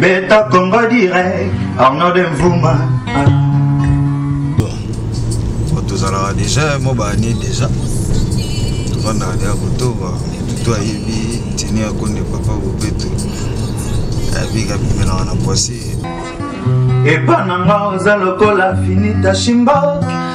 beta congo direct arnaud de mvuma tozalaka deja mwa baane deja tofandaka deja kotoba tutu ayebi ntini ya konde papa bopeto ayebi kabimelaka na poisi epa na nga oza lokola finita shimboki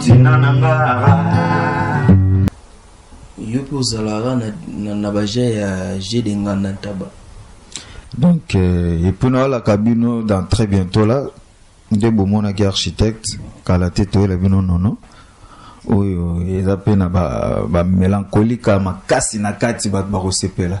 tina na nga yo mpe ozalaka na, na, na baje ya je de nganda ntaba donc euh, epuis nayalaka bino dans très bientôt là nde bomonaki architecte kala te toyela bino nono oyo eza mpe na bamelankolika ba makasi na kati bato bakosepela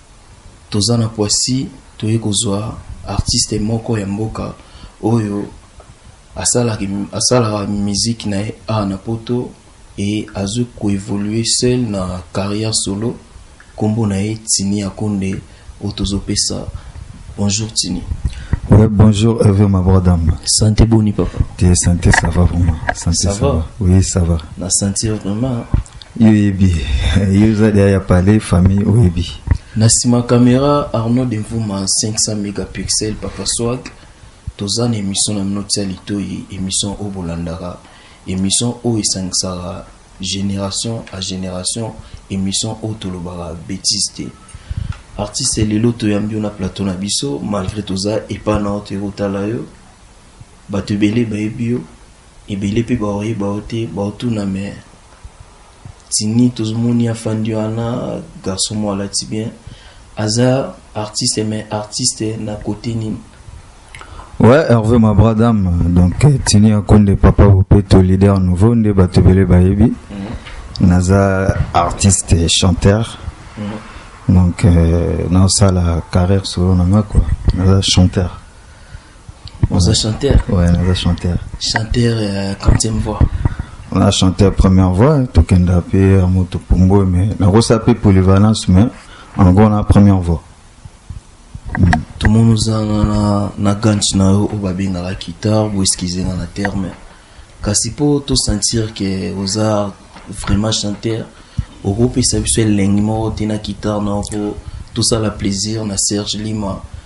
Toza na poissi toye kozua artiste moko ya mboka oyo asalaka musique na ye awa na poto et azo ko evoluer seul na carrière solo kombo na ye Tiny Akonde oyo tozo pesa bonjour Tiny. Oui, bonjour Hervé Mabradam. Santé boni papa? Te santé ça va vraiment. Santé ça, ça va? va? Oui, ça va. Na santé vraiment. yo oyebi yo oza deya ya palais famille oyebi na nsima kamera arnaud de mvuma 500 mégapixel papa swag toza na émission na bino tia litoyi émission oyo bolandaka émission oyo esangisaka génération à génération émission oyo tolobaka bétise te artiste lelo toyambi yo na plateau na biso malgré toza epa na yo toyei kotala yo bato ebele bayebi yo ebele pe bakoyeba yo te bakotuna mais tini tozomoni afandi wana garçon moko alati bien aza artiste mais artiste na kote nini Ouais, Hervé Mabra Dame, donc euh, Tini Akonde, Papa Bopeto, leader nouveau, Nde Batebele Bayebi, mm -hmm. Naza artiste et chanteur, mm -hmm. donc euh, dans ça la carrière solo nanga quoi, Naza chanteur. Oza chanteur Ouais, naza chanteur. Chanteur euh, quantième voix On a chanté la première voix, tokenda pe amoto pombo mais nakosa pe polyvalence mais en gros na première voix. tomoni ozanga na, na gante na yo oyo babengaka guitare boeskize nga na terme kasi mpo tosentir ke oza vraiment chanteur okopesa biso elengi moko te na guitare na yo mpo tosala plaisir na serge lima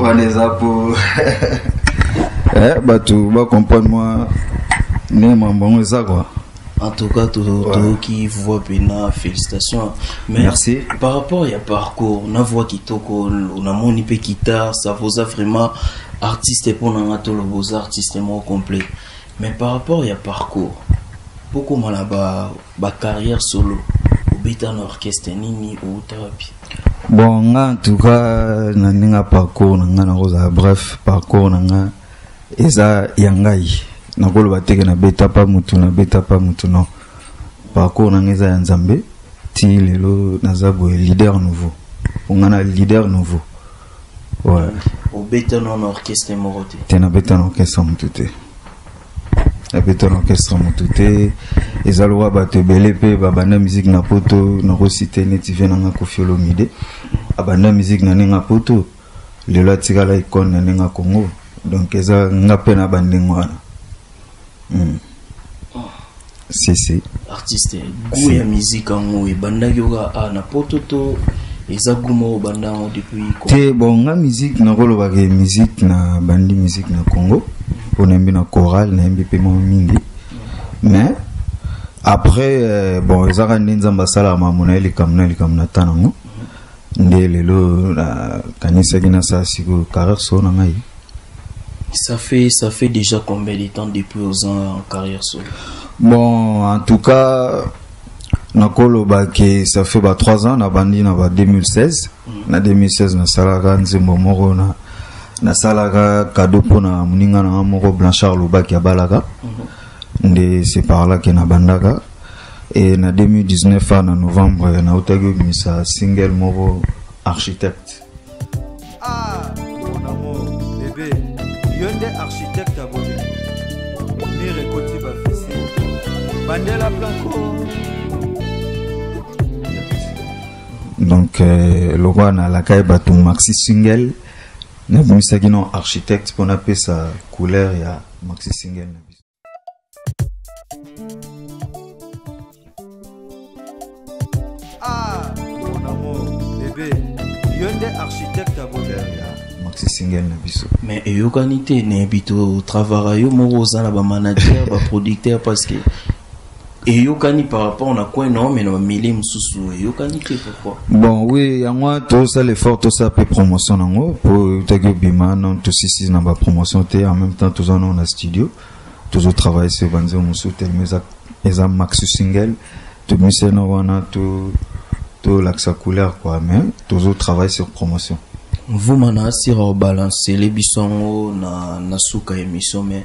wana eza po eh, bato bacomprendre mwa ndenge mambo yango eza kua en tout cas toyoki voix pena félicitation mais Merci. par rapport ya parcours na voix kitoko namoni mpe guitare ça voza vraiment artiste mpo na nga toloba oza artiste moko complet mais par rapport ya parcours bokoma na ba Ba carrière solo obeta na orchestre nini outa wapi? Bon nga en tout cas na ndenge parcours na nga nakozala bref parcours na nga eza ya ngai nakoloba teke na beta pa mutu na beta pa mutu non parcours na nga eza ya nzambe ti lelo naza boye leader nouveau onga na leader nouveau ouais. obetana na orchestre moko te te nabetana orchestre motu te ya beton orchestre motu te eza lokola bato ebele mpe babanda miziki na poto nakosite neti vie nanga kofi olomide abanda miziki na ndenge ya poto lelo atikala ikone na ndenge ya congo donc eza nga mpe na bandenge wana mm. sese artiste goût ya musique yango ebandaki oka a na poto to eza goût moko obanda yango depuis te bon nga musique nakolobaka ye musique na bandi musique na congo mpo nayembi na chorale nayembi mpe mwa mingi mais après euh, bon ezaka nde nzambe asalaka makambo na ye likambo na likambo na ta nango nde lelo nakanisaki na saa sikoyo carrière solo na ngai ça fait ça fait déjà combien de temps depuis aux ans en carrière solo bon en tout cas nakoloba ke ça fait ba 3 ans nabandi na ba 2016 mm. na 2016 nasalaka nzembo moko na nasalaka kado mpo na moninga na nga moko blanchard lobaki abalaka mm -hmm. nde c'est par là que na bandaka et na 2019 à na novembre na otaki obimisa single moko architecte ah mon amour bébé yo nde architecte ya bolingo mire ekoti bafisi bandela blanco donc euh, lokola nalakaki bato maxi single nabimisaki no architecte mpo napesa couleur ya maxi single na biso ah mon amour bebe yo nde architecte ya bonheur ya maxi single na biso mais eyokani te nayebi to travara yo moko oza na bamanager baproducteur parce que eyokani par rapport na coin na mais na bamilie mosusu eyokani te pourquoi bon oui yango wana tosala effort tosala mpe promotion nango mpo eutaki obima non tosisi na bapromotion te en même temps toza nango na studio tozotravaille sur banzembo mosusu telema eza, eza maxi single tomisena wana tolakisa to couleur quoi mais tozotravaille sur promotion mvuma na asira obalance ele biso yango na, na suka emission mais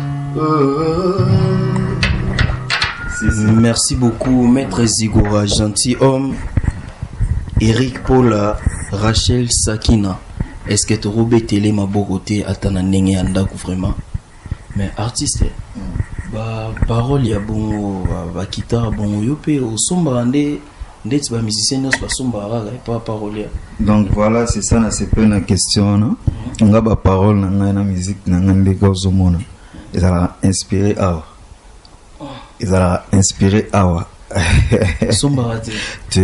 Merci beaucoup, Maître Zigora, gentil homme. Eric Paula, Rachel Sakina. Est-ce que tu robé télé ma beauté à ta nanenge andaku vraiment? Mais artiste, ba parole ya bongo, ba kita bongo yope, au sombrande. ndeti ba musicien nyonso basombaka kaka epa parolier donc voilà c'est ça na sepele na question wana mhm. nga ba parole na ngai na musique na ngai ndenge ozomona ezalaka inspiré awa oh. ezalaka inspiré awa sombaka te te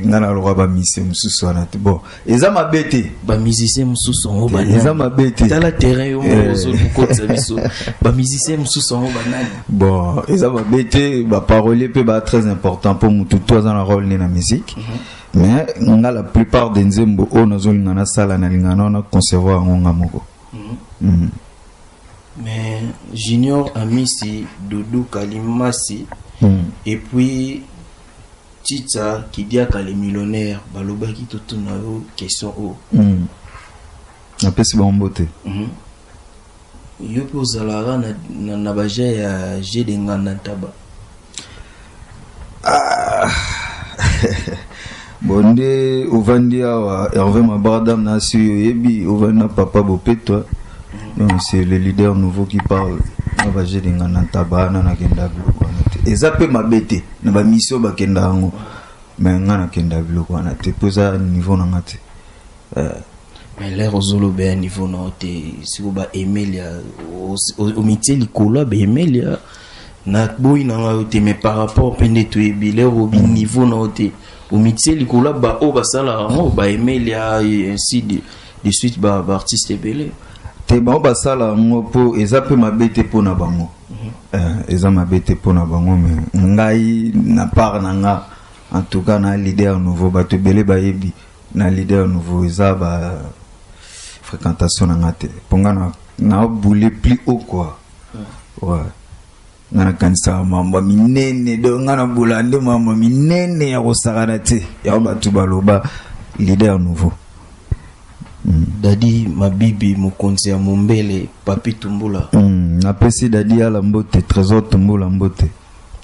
nga naloka bamisi mosusu wana te bon eza mabe te bamusicien mosusu yango eza mabe te tala terrain yo eh. ozokokotisa biso bamusicien mosusu yango banani bon eza mabe te baparolier mpe ba très important mpo motu to aza na role ne na musique mhm. mais nga la plupart de nzembo oyo nazolinga nasala nalingana wana concevoir yango nga moko mhm. Mhm. mais junior amisi doudou kalimasi et puis Chicha Kidiaka le millionnaire balobaki totuna yo question oyo. Mm. Napesi bango mbote. Mm -hmm. Yo mpe ozalaka na, na, na baje ya je de nganda ntaba. Ah. bon nde ovandi awa herve mabardam na asi oyo oyebi ovandi na papa bopetwa donc c'est le leader nouveau qui parle na baje de nganda ntaba ana nakenda biloko wana te eza mpe mabe te na ba mission bakenda yango mais nga nakenda biloko wana te mpo eza niveau na nga te euh, mais lere ozoloba ya niveau na yo te siko ba emelia omitie likolo ya ba emelia naboyi na ngai yo te mais par rapport mpe nde toyebi lere obi mm. niveau na yo te omitie likolo ya baoyo basalaka yango ba emelia ainsi de, de suite baartiste ebele te bango basala yango mpo eza mpe mabe te mpo na bango Eh, eza mabe te pona bango me ngai na part na nga en tout cas na leader nouveau bato ebele bayebi na leader nouveau eza ba fréquentation na nga te mpo nga na, na boule plus haut quoi ouais. nga nakanisaka mambo minene donc nga na bola nde mambo minene ya kosakana te yango bato baloba leader nouveau Daddy Mabibi mokonzi ya mombele Papy Tumbula. Napesi Daddy Ala mbote, Tresor Tumbula mbote.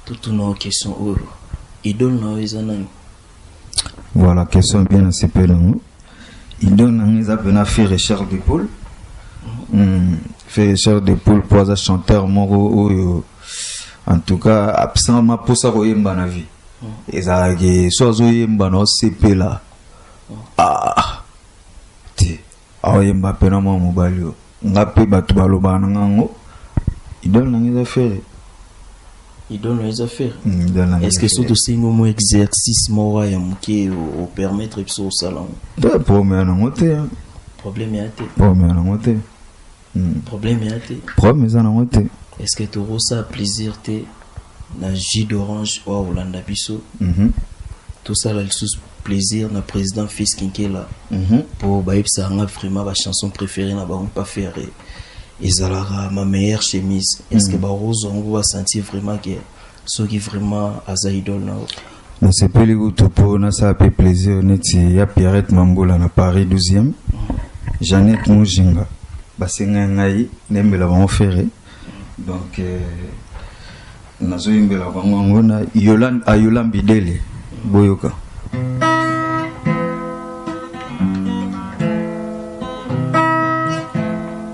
Totuna yo question oyo, idole na yo eza nani? Voilà, question bien nasepeli nango. Idole na ngai eza pena Ferre Richard de Paul. Mm. Mm. Ferre Richard de Paul po aza chanteur moko oyo en tout cas absent maposa koyemba na vie. Mm. Ezalaki so azoyemba na osepela. ah te aoyemba mpe na mwa mobali oyo nga mpe bato balobaka na nga yango idole na nga eza fere idole na eza fere mm, est ce que so tosengi omo exercice moko ya moke opermettre biso kosala yango problème yango te problème ya te problème yango te Hmm. Problème ya te. Problème eza nango te. Est-ce que toko sa plaisir te na jus d'orange oyo akolanda biso? Mhm. tosala lisusu plaisir na président fils kinkela mhm. mpo bayebisaka nga vraiment bachanson préféré na bango mpa ferre ezalaka ma meilleure chemise est ce que mhm. bakozwa yango basentir vraiment ke soki vraiment aza idole na yo nasepeli kutu mpo nasala mpe plaisir neti ya pierrette mambula na paris 12e jeannette mojinga basenga ngai nayembela bango fere donc euh, nazoyembela bango yango na ayola mbidele boyoka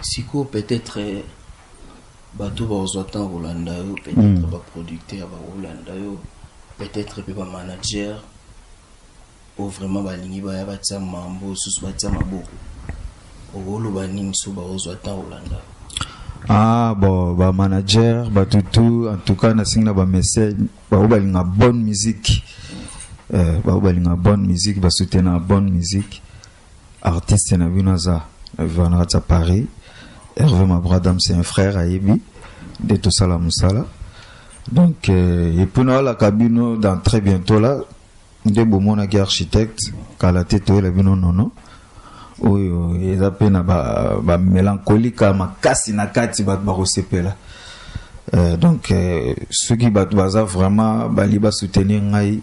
Sikoyo peut etre bato bakozwa ntango kolanda yo peut etre mm. baproducteur bakolanda yo peut etre mpe bamanager oyo vraiment balingi baya batia mambo osusu batia maboko okoloba nini so bakozwa ntango kolanda yo ah bon bamanager bato tout en tout cas nasengi na bamessage baoyo balinga bonne musique euh, baoyo balinga bonne musique basoutenaka bonne musique artiste na bino aza na viva na kati ya paris herve mabradam c'est un frère ayebi nde tosala mosala donc euh, epuis nayalaka bino dans très bientôt là nde bomonaki architecte kala te toyela bino nono oyo eza mpe na bamelankolika ba makasi na kati bato bakosepela euh, donc euh, soki bato baza vraiment bali basoutenir ngai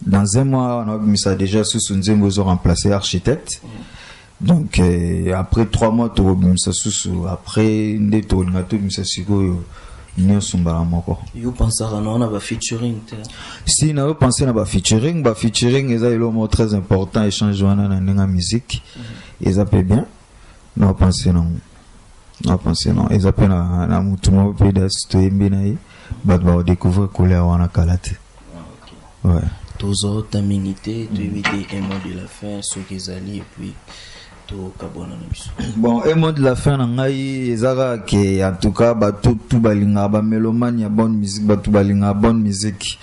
dans un mois on a mis ça déjà sous son zembo zo remplacer architecte donc euh, après trois mois tu mis ça sous après nde to linga to mis ça sikoyo nyonso mbala moko yo pensaka na wana bafeaturing te si nayo pense na bafeaturing bafeaturing eza eloko moko très important échange wana na ndenge ya musique mhm. eza mpe bien nayo pense nango na pense non eza mpe na, na mutu moko mpe dasi toyembi na ye bato bakodecouvrir kolea wana kala te ah, ouais. tozota mingi te toyebi te un mot de la fin soki ezali epuis tokabwana na biso bon un mot de la fin na ngai eza kaka ke en tout cas bato tu balingaka bamelomane ya bonne musique bato balingaka bonne musique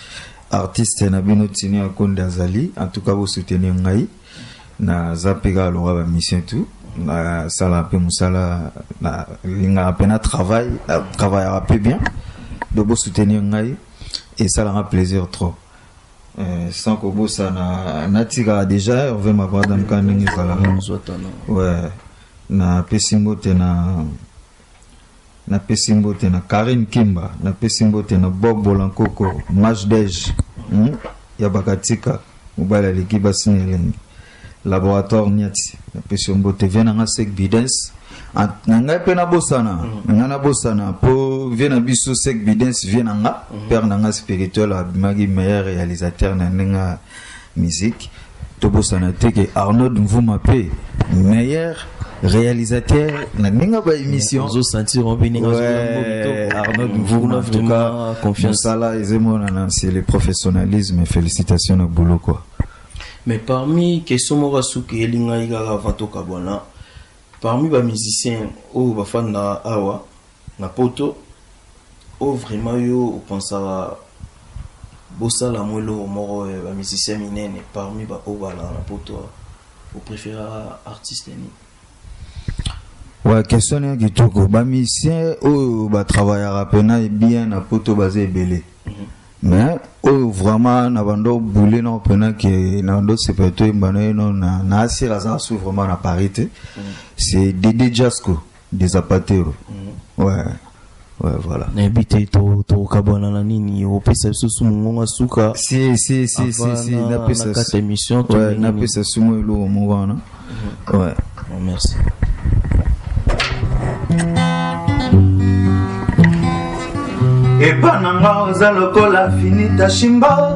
artiste na bino tini akonde azali en tout cas bosoutenir ngai naza mpe kaka lokola ba mission tout nasala mpe mosala nalingaka mpe na travail na travaillaka mpe bien do bosoutenir ngai esalaka plaisir trop Euh, sans kobosana natikaka déjà herve makwada mka ndenge ezalaka ouais napesi mbote na Na pesi mbote na Carine Kimba, na pesi mbote na Bob Bolankoko, Majdej hum, ya Bakatika, mobali aleki basi na elengi. Laboratoire Niati, na pesi mbote vie na nga Sek Bidens. Ah, na ngai pe na bosana, mm. nga na bosana po vie na biso Sek Bidens vie na nga, mm. père na nga spirituel abimaki meilleur réalisateur na ndenge musique tobosana te ke Arnold Mvuma pe meilleur réalisateur na ninga ba émission ozo sentir on bi ninga ouais, Arnold Mvuma en tout cas confiance sala ezemo na c'est le professionnalisme félicitations na boulot quoi mais parmi question moko suki elinga igara avant tokabwana parmi ba musiciens oyo bafanda awa Na poto oh vraiment yo opensaka bosala yango eloko moko eh, ba musicien minene parmi ba oyo balaka na poto awa opreferaka artiste nini? Ouais, question ya kitoko. Ba musiciens oyo ba travaillaka pena bien na poto baza ebele. Mm -hmm. Mais oyo vraiment na bando boule na pena que na bando se peut to mbana na na asira za su vraiment na parité. Mm -hmm. C'est Dede Jasco. de zapatero ouais ouais voilà nayebi te tokabwana na nini opesa biso su mongonga suka si si si si si napesa kata émission ouais napesa su mo eloko moko wana mhm. ouais oh, merci epa na nga oza lokola finita shimba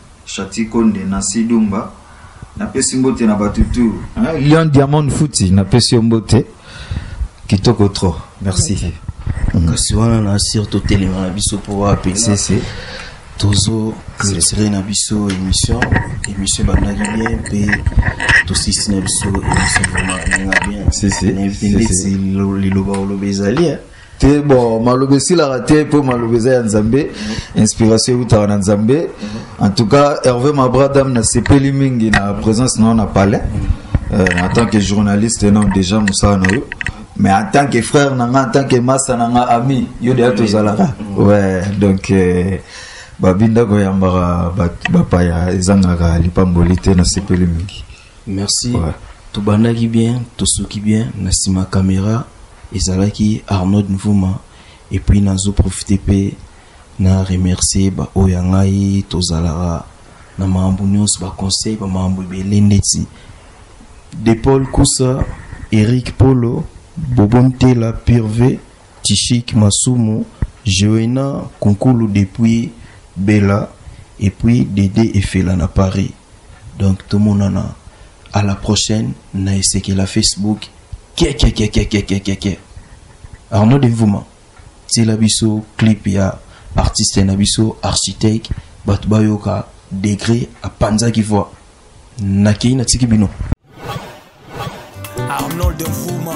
Shati Konde na Sidumba napesi mbote na bato tu hein? Lion Diamond Futi napesi yo mbote kitoko trop merci okay. Mm. kasi wana na asire totelema na biso mpo wapi tozo clôturer na biso émission émission ebandaki bien mpe tosisi na biso émission vraiment elinga bien na invité ndeti liloba oloba ezali te bon maloba esilaka te mpo maloba eza ya nzambe inspiration eutaka na nzambe en tout cas herve mabradam nasepeli mingi na présence na yo na palais euh, en tant que journaliste non déjà mosala na yo mais en tant que frère na nga en tant que masa na nga ami yo deya tozalaka ouais donc euh, babinda koyambaka bapaya ezangaka lipamboli te nasepeli mingi Merci. Ouais. Tobandaki bien, tosuki bien, na sima camera ezalaki Arnold Nvuma et puis nazo profiter pe na remercier ba oyo ya ngai tozalaka na makambo nyonso ba conseil ba makambo ebele ndeti de paul kusa eric polo bobo ntela purve tishik masumu joena kunkulu depuis bela epuis dede efela na paris donc tomonana à la prochaine na esekela facebook kiekiekiekiekiekiekie arnaud de mvuma tiela biso clip ya artiste na biso architecte bato bayoka degre apanzaki voi nakei natiki bino arnold mvuma